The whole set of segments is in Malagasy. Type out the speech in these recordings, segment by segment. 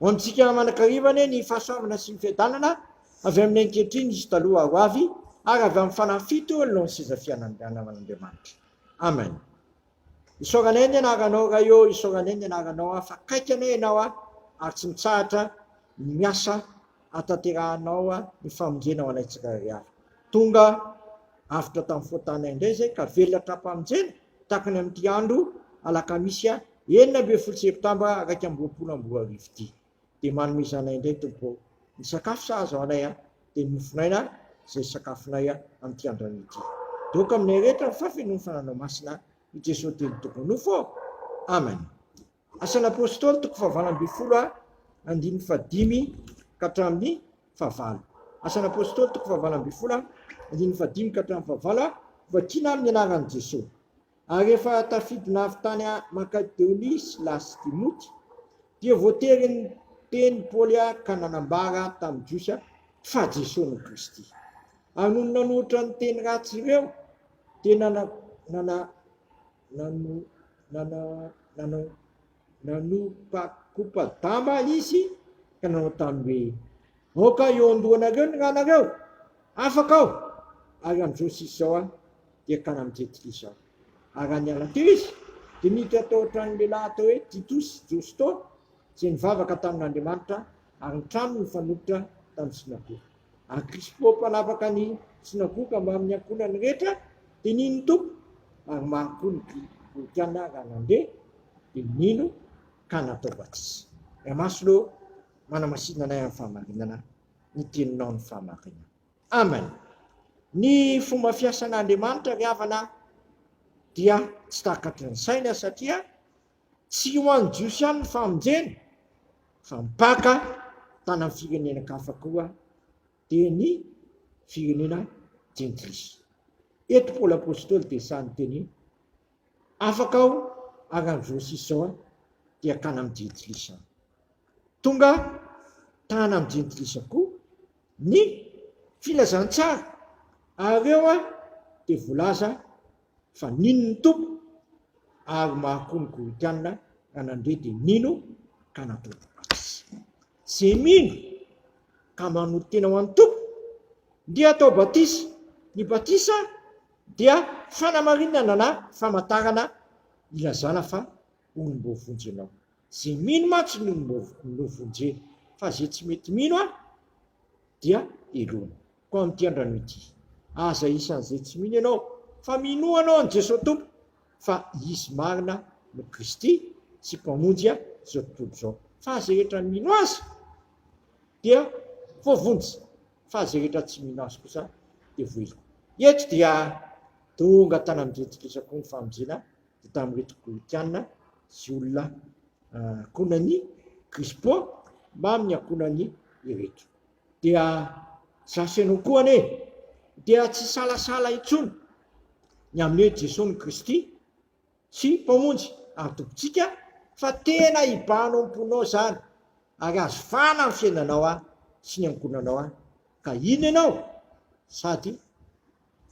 Ho amintsika manakariva anie ny fahasoavana sy ny fiadanana avy amin'ny ankehitriny sy taloha ho avy ary avy amin'ny fanahy fito eo ny seza fianavan'Andriamanitra. Amen. Isaoranay ny anaranao Ray ô, isaoranay ny anaranao aho fa kaiky anay ianao aho ary tsy mitsahatra ny miasa atanterahanao ny famonjena ho anay tsirairay avy. Tonga avotra tamin'ny fotanay indray izay ka velona hatrampamonjena. takany amin'ity andro alakamisy enina ambin'ny folo septambra iraika amby roapolo amby roa arivo ity. Dia manome izany ahy indray Tompo ô. Ny sakafo sahaza ho anay dia ny mofon'aina izay sakafonay amin'ity andronay ity. Dia aoka aminay rehetra ny fahafenoan'ny fananao masina i Jesoa Telo Toko Nofo ô. Amen. Asan'ny Apôstôly toko fahavalo ambin'ny folo a andininy fahadimy ka hatramin'ny fahavalo. Asan'ny Apôstôly toko fahavalo ambin'ny folo a andininy fahadimy ka hatramin'ny fahavalo a Vakiana amin'ny anaran'i Jeso. Ary rehefa tafidina avy tany a Makadeonia Sila sy Timoty, dia voatery niteny Paoly a ka nanambara tamin'ny Jiosy a fa Jeso no Kristy. Ary nony nanoritra ny teny ratsy ireo, dia nana, nana, Nanopa-kopa-damba izy ka nanao taminy hoe, Aoka hiondonanareo ny ranareo, afaka aho, ary amin'izao sy izao aho dia akany amin'i Jetlizy aho. Ary raha niala teo izy, dia niditra tao an-tranon'ny lehilahy atao hoe Titosy Josto, izay nivavaka tamin'Andriamanitra ary nitranony ny mpanolotra tany synagoga. ary Krispo mpanapaka ny sinagoga mbamin'ny ankohonany rehetra dia nino ny Tompo, ary maro koa ny Grikana raha nandeha dia nino ka natao batisa. Ray Masina ô, manamasina anay amin'ny fahamarinana ny teninao ny fahamarinana. Amen. Ny fomba fiasan'Andriamanitra ry havana dia tsy takatry ny saina satria. Tsy ho an'ny Jiosy ihany ny famonjena fa mpaka tany amin'ny firenenan-kafa koa dia ny firenena jentilisa. Eto Paoly Apostoly dia sahy niteny hoe, Afaka aho ary amin'ny izao sy izao dia akany amin'ny jentilisa aho. Tonga tany amin'ny jentilisa koa ny filazantsara ary eo dia voalaza fa nino ny Tompo ary maro koa ny Koritiana raha nandre dia nino ka natao batisa. Izay mino ka manolo-tena ho an'ny Tompo dia atao batisa. Ny batisa dia fanamarinana na famantarana ilazana fa olom-bao vonjy ianao. Izay mino mantsy ny olom-bao no vonjena fa izay tsy mety mino dia heloina. Koa amin'ity andrano ity, aza isan'izay tsy mino ianao, fa minoa anao an'i Jesoa Tompo, fa Izy marina no Kristy sy Mpamonjy izao tontolo izao. Fa izay rehetra mino Azy dia voavonjy, fa izay rehetra tsy mino Azy kosa dia voaheloka. Eto dia tonga tany amin'i Jesoa Kristy avokoa ny famonjena, dia tamin'ireto Kolotiana sy olona ankohonan'i Krispo mamin'ny ankohonany ireto. Dia zasy anao koa anie dia tsy hisalasala intsony ny amin'ny hoe Jesoa ny Kristy sy Mpamonjy ary Tompontsika fa tena hibano ao am-ponao izany ary hahazo vahana amin'ny fiainanao sy ny ankohonanao ka hino ianao sady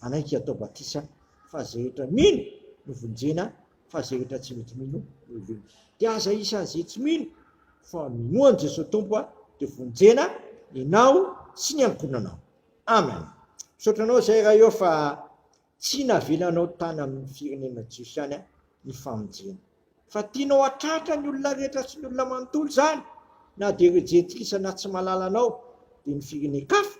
Hanaiky hatao batisa fa ze rehetra mino no vonjena fa ze rehetra tsy mety mino no hivonjy. Dia aza isan' ze tsy mino fa minoa an' Jesoa Tompo dia vonjena enao sy ny ankohonanao. Amen. Misaotra anao zay Ray ô fa tsy navelanao tany amin' ny firenena jiosy ihany ny famonjena. Fa tianao hatratra ny olona rehetra sy ny olona manontolo izany na dia ireo jetikisa na tsy mahalala anao dia ny firenen-kafa?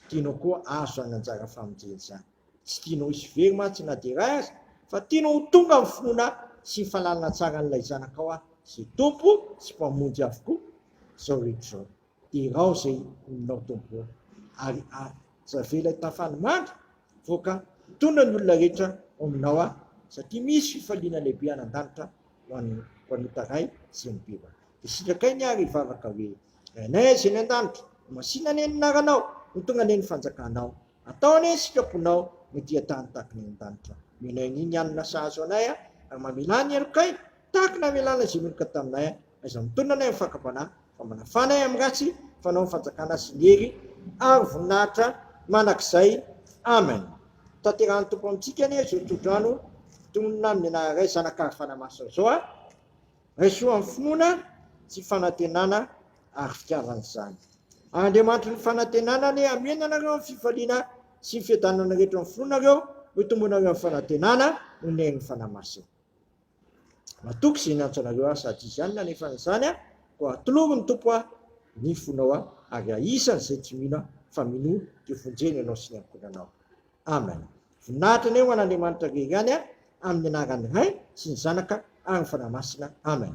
Tianao koa azo izany anjara famonjena izany? Tsy tianao hisy very mantsy na dia iray aza fa tianao ho tonga amin'ny finoana sy ny fahalalana tsara an'ilay Zanakao aho izay Tompo sy Mpamonjy avokoa izao rehetra izao. Irao izay olonao Tompo ô, ary aza avela hitafàn'ny mandry, voaka tondra ny olona rehetra ao Aminao aho, satria misy fifaliana lehibe any an-danitra ho an'ny mpanota Ray sy ny Mpiva. Dia sitrakay ny ahy hivavaka hoe, Rainay izay any an-danitra, ho masìna anie ny anaranao, ho tonga anie ny fanjakanao, atao anie ny sitraponao no dia tany tahaka ny any an-danitra. Omeo anay anio ny hanina sahaza ho anay, ary mamelà ny helokay tahaka ny namelàna izay meloka taminay. Aiza ny tolona anay amin'ny fakam-panahy, famana fana ahy amin'ny ratsy, fanao ny fanjakana sy ny hery ary voninahitra mandrakizay. Amen. Tanterahan'ny Tompo amintsika anie izao tsodrano tononina amin'ny anaran'Ray, Zanaka ary Fanahy Masina izao a! Raiso amin'ny finoana sy fanantenana ary fitiavana izany. Andriamanitry ny fanantenana anie hamena anareo amin'ny fifaliana sy ny fiadanana rehetra amin'ny finoanareo, hoy tombonareo amin'ny fanantenana noho ny herin'ny Fanahy Masina. Matoky izay niantso anareo aho sady izy ihany nanefa izany aho, koa atolory ny Tompo aho ny fonao aho, ary ahisan' izay tsy mino aho, fa minoa dia vonjeny ianao sy ny ankohonanao. Amen. Voninahitra anie ho an' Andriamanitra irery ihany aho, amin' ny anaran' ny Ray sy ny Zanaka ary ny Fanahy Masina. Amen.